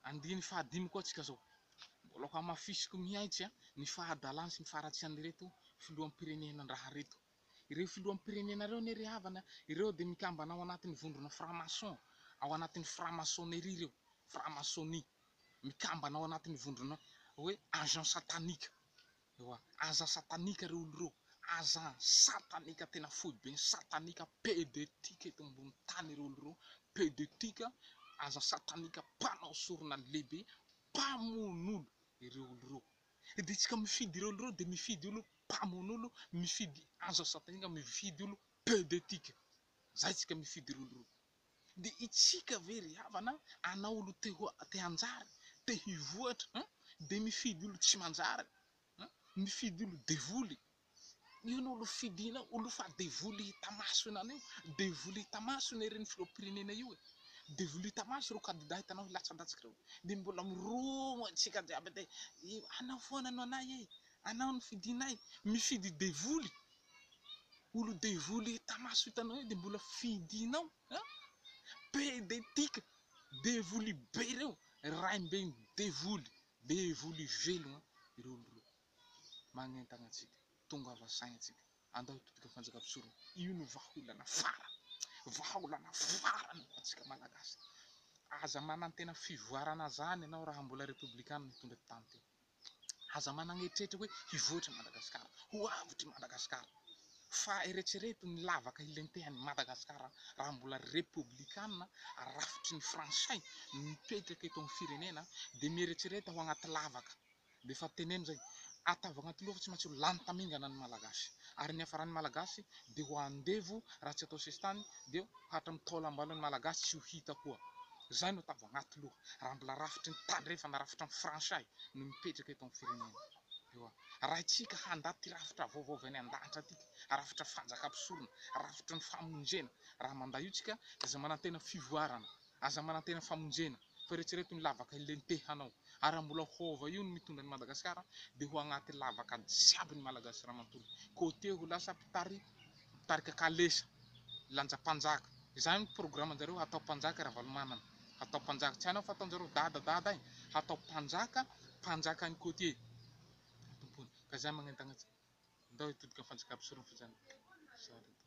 Andininy fahadimy koa tsika zao. Mbola hohamafisiko mihaitsy ny fahadalany sy ny faharatsian'ireto filoham-pirenenan-draha reto. Ireo filoham-pirenena ireo anie ry havana, ireo dia mikambana ao anatin'ny vondrona franc-maçon, ao anatin'ny franc-maçonnerie ireo, franc-maçonnie. Mikambana ao anatin'ny vondrona hoe agent satanique. Ewa, aza satanika reo olo reo, aza satanika tena foibe ny satanika pede tika eto ambony tany ireo olo ireo, pede tika, aza satanika mpanao sorona lehibe, mpamono olo ireo olo ireo, dia tsika mifidy ireo olo ireo dia mifidy olo mpamono olo, mifidy aza satanika, mifidy olo pede tika, zay tsika mifidy ireo olo ireo. Dia itsika ve ry havana anao olo te ho te hanjary te hivoatra an dia mifidy olo tsy manjary an mifidy olo devoly io no olo fidinao olo fa devoly hita maso enana io devoly hita maso ny reny filohampirenena io e devoly hita maso ireo kandida hitanao hilatsadatska ireo dia mbola miroho antsika jiaby dia anao foana no anay e anao no fidinay mifidy devoly olo devoly hita maso hitanao eo de mbola fidinao a! pede tika devoly be reo raim-ben devoly devoly velogna ireo olo reo magnentagna antsika tongava saigny antsika andao hitodika fanjakam-pisorogna io no vahaolana farany vahaolana farany ho antsika malagasy aza manantena fivoarana zany ianao raha mbola repoblikanina hitondra tany ty. Aza manana eritreritra hoe hivoatra i Madagasikara, ho avotry Madagasikara, fa eretrereto ny lavaka hilentehan'i Madagasikara raha mbola repoblikanina rafitry ny frantsay no mipetraka eto amin'ny firenena dia mieretsereta ho anaty lavaka dia efa teneno izay atavo anaty loha fa tsy maintsy ho lany tamingana ny Malagasy ary ny hafaran'ny Malagasy dia ho andevo raha tsy atao sesitany dia hatram taolambalon'ny Malagasy tsy ho hita koa Izay no tambo anaty loha raha mbola rafitry ny tandrefana, rafitry ny franchai no mipetraka eto amin'ny firenena. Ewa. Arahintsika handà ity rafitra vaovao avy any an-danitra ity, rafitra fanjakam-pisorona, rafitry ny famonjena. Raha mandà io tsika dia aza manantena fivoarana, aza manantena famonjena, fa eretsereto ny lavaka hilenteha anao. Ary raha mbola hova io no mitondra an'i Madagasikara dia ho anaty lavaka jiaby ny Malagasy raha manontolo. Côté ho lasa mpitari Mitarika kalesa, lanja mpanjaka. Izany ny programme njareo, hatao mpanjaka Ravalomanana, hatao mpanjaka. Tsy hainao fa ataonjareo dada dada iny, hatao mpanjaka, mpanjaka any côtier no tompony. Ka izany magnentana antsika, ndao hitodika amin'ny fanjakam-pisorona fa izany, zary eto.